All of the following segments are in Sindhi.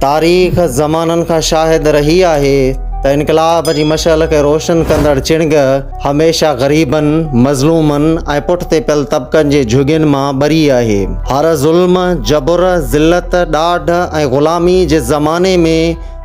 تاريخ زمانن کان شاهد رهي آهي ته انقلاب جي مشعل کي روشن ڪندڙ چڻگ هميشه غريبن، مظلومن ۽ پٺتي پيل طبقن جي جهڳين مان ٻري آهي. هر ظلم، جبر، ذلت، ڏاڍ ۽ غلامي جي زماني ۾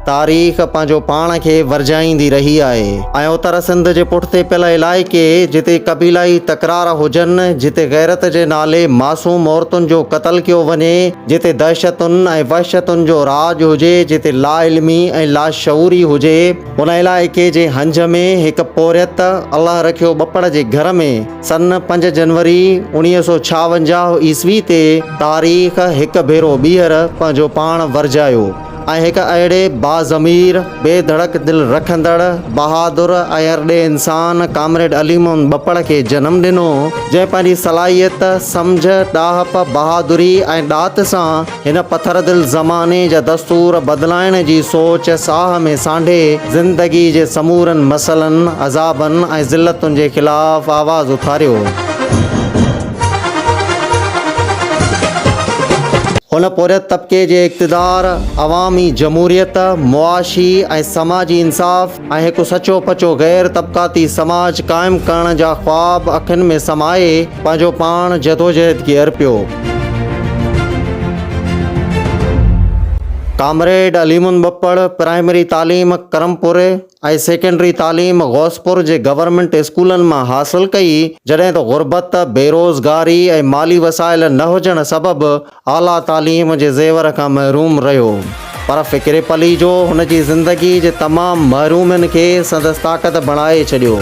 تاريخ پنهنجو پاڻ کي ورجائيندي رهي آهي ۽ اتر سنڌ جي پٺتي پيل علائقي جتي قبيلائي تڪرار هجن، جتي غيرت جي نالي معصوم عورتن جو قتل ڪيو وڃي، جتي دهشتن ۽ وحشتن جو راڄ هجي، جتي لاعلمي ۽ لاشعوري هجي، ان علائقي جي هنج ۾ هڪ پورهيت الله رکيو ٻپڙ جي گهر ۾ سن پنج جنوري اڻيهه سؤ ڇاونجاهه عيسوي تي تاريخ هڪ ڀيرو ٻيهر پنهنجو پاڻ ورجايو. ۽ هڪ اهڙي باضمير، بي ڌڙڪ دل رکندڙ، بهادر ۽ ارڏي انسان ڪامريڊ علي محمد ٻپڙ کي جنم ڏنو، جنهن پنهنجي صلاحيت، سمجهه، ڏاهپ، بهادري ۽ ڏات سان هن پٿر دل زماني جا دستور بدلائڻ جي سوچ ساهه ۾ سانڍي زندگي جي سمورن مسئلن، عذابن ۽ ذلتن جي خلاف آواز اٿاريو. هن پورهيت طبقي جي اقتدار، عوامي جمهوريت، معاشي ۽ سماجي انصاف ۽ هڪ سچو پچو غير طبقاتي سماج قائم ڪرڻ جا خواب اکين ۾ سمائي پنهنجو پاڻ جدوجهد کي ارپيو. ڪامريڊ عليمند ٻپڙ پرائمري تعليم ڪرمپوري، ۽ سيڪنڊري تعليم غوثپور جي گورنمينٽ اسڪولن مان حاصل ڪئي، جڏهن ته غربت، بيروزگاري ۽ مالي وسائل نه هجڻ سبب اعليٰ تعليم جي زيور کان محروم رهيو. پر فڪري پليجو هن جي زندگي جي تمام محرومين کي سندس طاقت بڻائي ڇڏيو.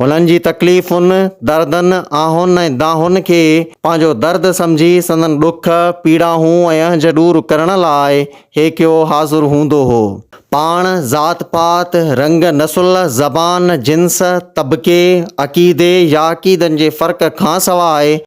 هنن جي تڪليفن، دردن، آهن ۽ دانهن کي پنهنجو درد سمجهي سندن ڏک، پيڙاهون ۽ اهنج ڏور ڪرڻ لاء هيڪيو حاضر هوندو هو. پاڻ ذات پات، رنگ، نسل، زبان، جنس، طبقي، عقيدي يا عقيدن جي فرق کانسواء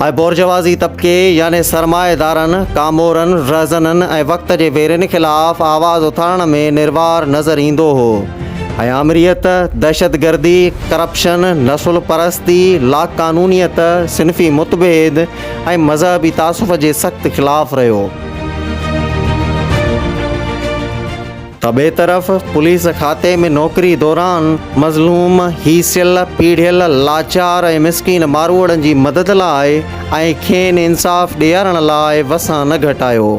۽ بورجوازي طبقي يعني سرمائيدارن، ڪامورن، رهزنن ۽ وقت جي ويرين خلاف آواز اٿارڻ ۾ نروار نظر ايندو هو ۽ آمريت، دهشتگردي، ڪرپشن، نسل پرستي، لاقانونيت، صنفي متڀيد ۽ مذهبي تعصف جي سخت خلاف رهيو. ته ٻئي طرف پوليس کاتي ۾ نوڪري دوران مظلوم، هيسيل، پيڙهيل، لاچار ۽ مسڪين ماروئڙن جي مدد لاء ۽ کين انصاف ڏيارڻ لاء وسان نه گهٽايو.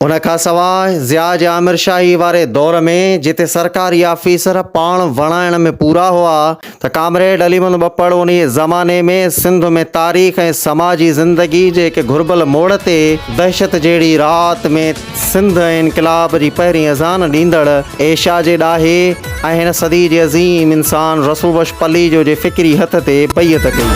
ان کان سواء ضياء جي آمرشاهي واري دور ۾ جتي سرڪاري آفيسر پاڻ وڻائڻ ۾ پورا هئا، ته ڪامريڊ علي محمد ٻپڙ انهيء زماني ۾ سنڌ ۾ تاريخ ۽ سماجي زندگي جي هڪ گهربل موڙ تي دهشت جهڙي رات ۾ سنڌ ۽ انقلاب جي پهرين اذان ڏيندڙ ايشيا جي ڏاهي ۽ هن صدي جي عظيم انسان رسول بخش پليجو جي فڪري هٿ تي بيعت ڪئي.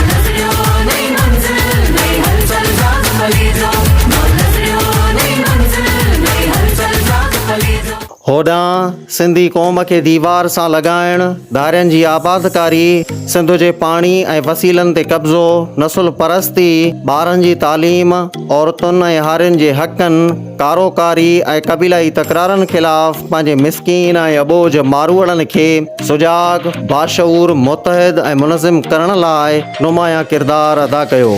هوڏانهن سنڌي قوم کي ديوار سان لڳائڻ، ڌارين جي آبادڪاري، سنڌ جي پاڻي ۽ وسيلن تي قبضو، نسل پرستي، ٻارن جي تعليم، عورتن ۽ هارين جي حقن، ڪارو ڪاري ۽ قبيلائي تڪرارن خلاف پنهنجي مسڪين ۽ اٻوجهه ماروئڙن کي سجاڳ، باشعور، متحد ۽ منظم ڪرڻ لاء نمايان ڪردار ادا ڪيو.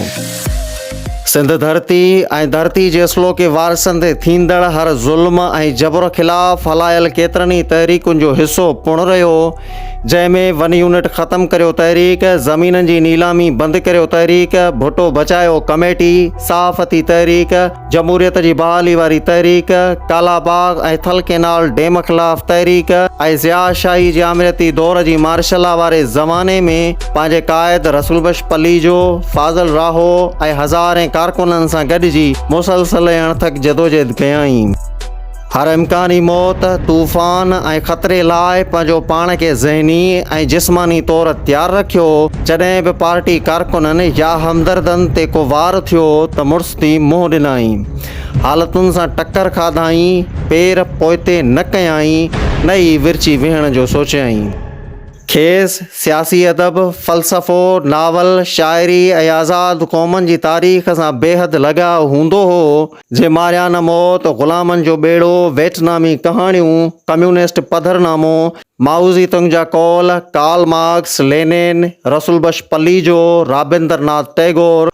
سنڌ ڌرتي ۽ ڌرتي جي اصلوڪي وارثن تي ٿيندڙ هر ظلم ۽ جبر خلاف هلايل ڪيترن ئي تحريڪن جو حصو پڻ رهيو جنهن ۾ ون يونٽ ختم ڪريو تحريڪ زمينن جي نيلامي بند ڪريو تحريڪ ڀٽو بچايو ڪميٽي صحافتي تحريڪ جمهوريت جي بحالي واري تحريڪ ڪالا باغ ۽ ٿل ڪينال ڊيم خلاف تحريڪ ۽ ضياء شاهي جي آمريتي دور جي مارشلا واري زماني ۾ پنهنجي قائد رسول بخش پليجو، فاضل راهو ۽ هزارين ڪارڪنن سان گڏجي مسلسل ۽ اڻٿڪ جدوجهد ڪيائين. هر امڪاني موت، طوفان ۽ خطري لاء پنهنجو پاڻ کي ذهني ۽ جسماني طور تيار رکيو، جڏهن به پارٽي ڪارڪنن يا همدردن تي ڪو وار ٿيو ته مڙس ٿي منهن ڏنائين، حالتن سان ٽڪر کاڌائين، پير پوئتي نه ڪيائين، نه ئي ورچي ويهڻ جو سوچيائين. کيس سياسي ادب، فلسفو، ناول، شاعري ۽ آزاد قومن جي تاريخ سان بيحد لڳاء هوندو هو. جي ماريانا موت، غلامن جو ٻيڙو، ويٽنامي ڪهاڻيون، ڪميونسٽ پڌر نامو، مائوزي تنگ جا قول، Karl Marx, Lenin, Rasool Bakhsh Palijo, Rabindra ناٿ ٽئگور،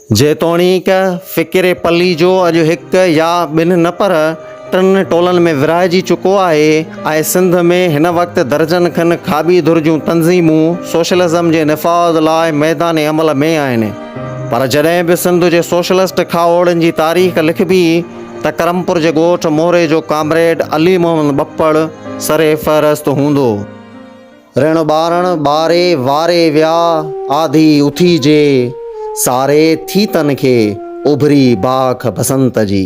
جيتوڻيڪ فڪر پليجو اڄ هڪ يا ٻن نه پر ٽن ٽولن ۾ ورهائجي چڪو آهي ۽ سنڌ ۾ هن وقت درجن کن کاٻي ڌر جون تنظيمون سوشلزم جي نفاذ لاء ميدان عمل ۾ آهن پر جڏهن به سنڌ جي سوشلسٽ کاهوڙن جي تاريخ لکبي ته ڪرمپور جي ڳوٺ موري جو ڪامريڊ علي محمد ٻپڙ سرفهرست هوندو. ريڻ ٻارڻ ٻاري واري ويا آڌي اٿي جي ساري ٿي تن کي اڀري باک بسنت جي.